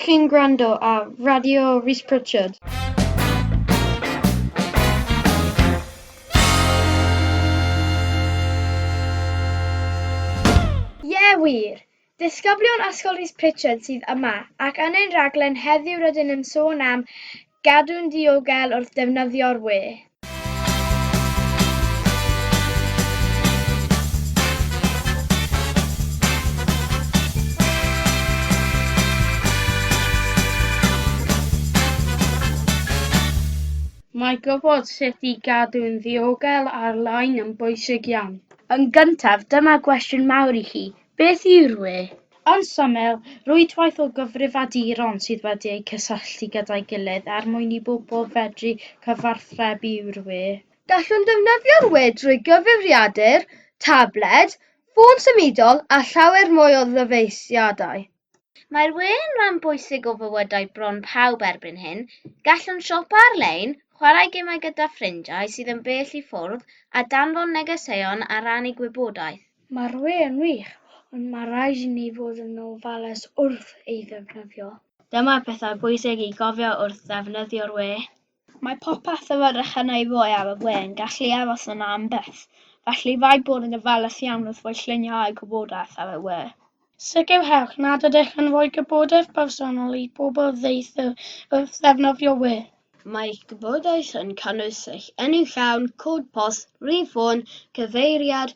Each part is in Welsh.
Chi'n gwrando ar Radio Rees Pritchard. Ie wir! Disgyblion Ysgol Rhys Pritchard sydd yma, ac yn ein rhaglen heddiw rydyn yn sôn am gadw'n ddiogel wrth ddefnyddio'r wê. Mae gwybod sut i gadw'n ddiogel ar-lein yn bwysig iawn. Yn gyntaf, dyma gwestiwn mawr i chi, Beth yw rwy? Yn syml, rhwydwaith o gyfrifiaduron sydd wedi eu cysylltu gyda'i gilydd er mwyn i bobl fedru cyfathrebu yw rwy. Gallwn ddefnyddio rwy drwy gyfrifiadur, tabled, ffôn symudol a llawer mwy o ddyfeisiadau. Mae'r we yn rhan bwysig o fywydau bron pawb erbyn hyn. Gallwn siopa ar-lein, chwarae gemau gyda ffrindiau sydd yn bell i ffwrdd, a danfon negeseuon a rannu gwybodaeth. Mae'r we yn wych, ond mae rhaid i ni fod yn ofalus wrth ei ddefnyddio. Dyma bethau pwysig i gofio wrth ddefnyddio'r we. Mae popeth o fyrrach yn ei foi ar y we yn gallu aros yna am byth, felly rhaid bod yn ofalus iawn wrth roi lluniau a'u gwybodaeth ar y we. Sicrhewch nad ydych yn rhoi gwybodaeth bersonol i bobl ddeuthr wrth ddefnyddio we. Mae eich gwybodaeth yn cynnwys eich enw llawn, cod post, rhif ffôn, cyfeiriad,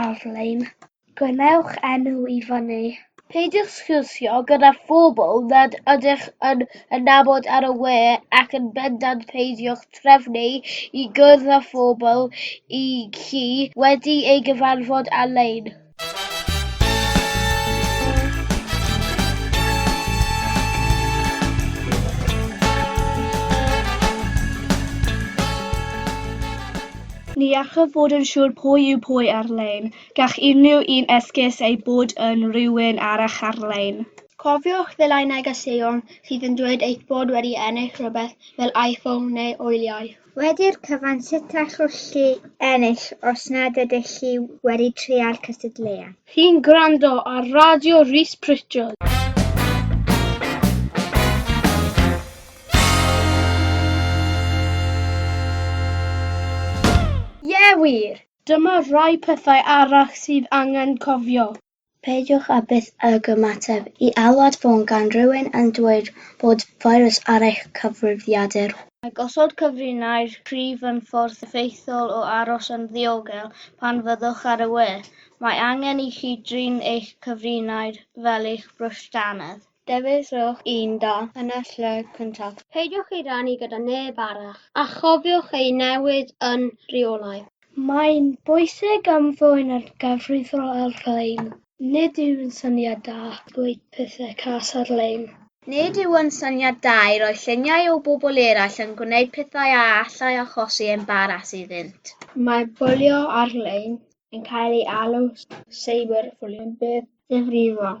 ar-lein. Gwnewch enw i fyny. Peidiwch sgwrsio gyda phobl nad ydych yn yn nabod ar y we ac yn bendant peidiwch trefnu i gwrdd â phobl i chi wedi ei gyfarfod ar-lein. Ni allaf fod yn siŵr pwy yw pwy ar-lein. Gall unrhyw un esgus eu bod yn rywun arall ar-lein. Cofiwch ddileu negeseuon sydd yn dweud eich bod wedi ennill rhywbeth fel iPhone neu wyliau. Wedi'r cyfan, sut allwch chi ennill os nad ydych chi wedi trial cystadleuaeth? Chi'n gwrando ar Radio Rees Pritchard. Ie wir! Dyma rai pethau arall sydd angen cofio. Peidiwch â byth ag ymateb i alwad ffôn gan rywun yn dweud bod feirws ar eich cyfrifiadur. Mae gosod cyfrinair cryf yn ffordd effeithiol o aros yn ddiogel pan fyddwch ar y we. Mae angen i chi drin eich cyfrinair fel eich brwsh dannedd. Dewiswch un da yn y lle cyntaf. Peidiwch ei rannu gyda neb arall, a chofiwch ei newid yn rheolaidd. Mae'n bwysig ymddwyn ar gyfrifo ar-lein. Nid yw'n syniad da dweud pethau cas ar-lein. Nid yw'n syniad da i roi lluniau o bobl eraill yn gwneud pethau a allai achosi embaras iddynt. Mae bwlio ar-lein yn cael ei alw cyberbwlio yn beth ddifrifol.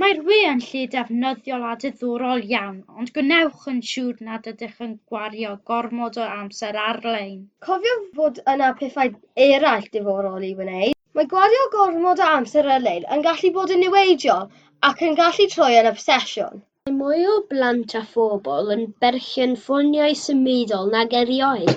Mae'r we yn lle defnyddiol a diddorol iawn, ond gwnewch yn siŵr nad ydych yn gwario gormod o amser ar-lein. Cofiwch fod yna pethau eraill diddorol i wneud. Mae gwario gormod o amser ar-lein yn gallu bod yn niweidiol ac yn gallu troi yn obsesiwn. Mae mwy o blant a phobl yn berchen ffoniau symudol nag erioed,